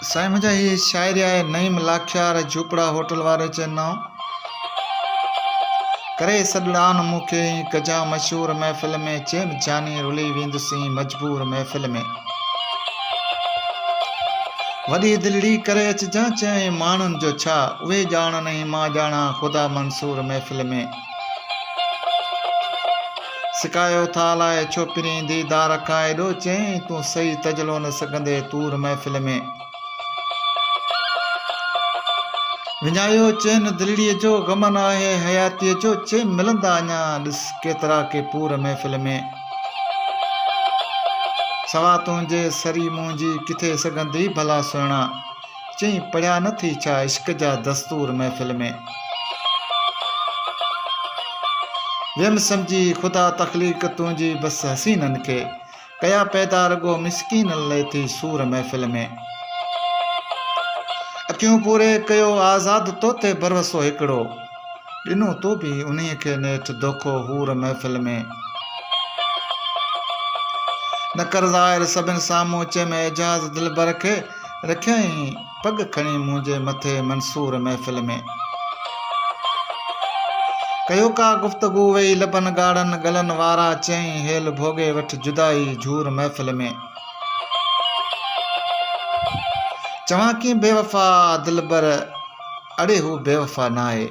سائين منهنجا هي شاعري آهي نعيم لاکيار جهوپڙا هوٽل واري چينائو ڪري سڏڙان مون کي هي ڪجان مشهور محفل ۾ چين جاني رلي ويندسين مجبور محفل ۾ وڏي دلڙي ڪري اچجان چيائين ماڻهن جو ڇا اهي ڄاڻن ۽ مان ڄاڻان خدا منصور محفل ۾ سڪايو ٿا الاء ڇو پرين ديدار کان ايڏو چين تون سهي تجلو نه سگهندي طور محفل ۾. وڃايو چين دلڙي جو غم نه آهي حياتي جو چين ملندا اڃا ڏس ڪيترا ڪي پور محفل ۾. سوا تنهنجي سري منهنجي ڪٿي سگهندي ڀلا سهڻا. چيائين پڙهيا نه ٿي ڇا عشق جا دستور محفل ۾. ويم سمجهي خدا تخليق تنهنجي بس حسينن کي. ڪيا پيدا رڳو مسڪينن لئه ٿي سور محفل ۾. اکيون پوري ڪيو آزاد تو تي ڀروسو هڪڙو. ڏنو تو به انهي کي نيٺ دوکو حور محفل ۾. نه ڪر ظاهر سڀن سامهون چئه ۾ اعجاز دلبر کي. رکيائين پڳ کڻي منهنجي مٿي منصور محفل ۾. ڪيو ڪا گفتگو ويئي لبن ڳاڙهن ڳلن وارا چيائين هيل ڀوڳي وٺ جدائي جهور محفل ۾. چوان ڪين بيوفا دلبر اڙي هو بيوفا ناهي.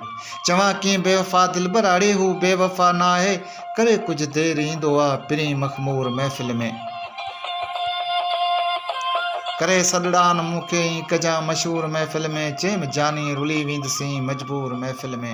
چوان ڪين بيوفا دلبر اڙي هو بيوفا ناهي. ڪري ڪجهه دير ايندو آ پرين مخمور محفل ۾. ڪري سڏڙان مون کي ايئن ڪجان مشهور محفل ۾. چيم جاني رلي ويندسين مجبور محفل ۾.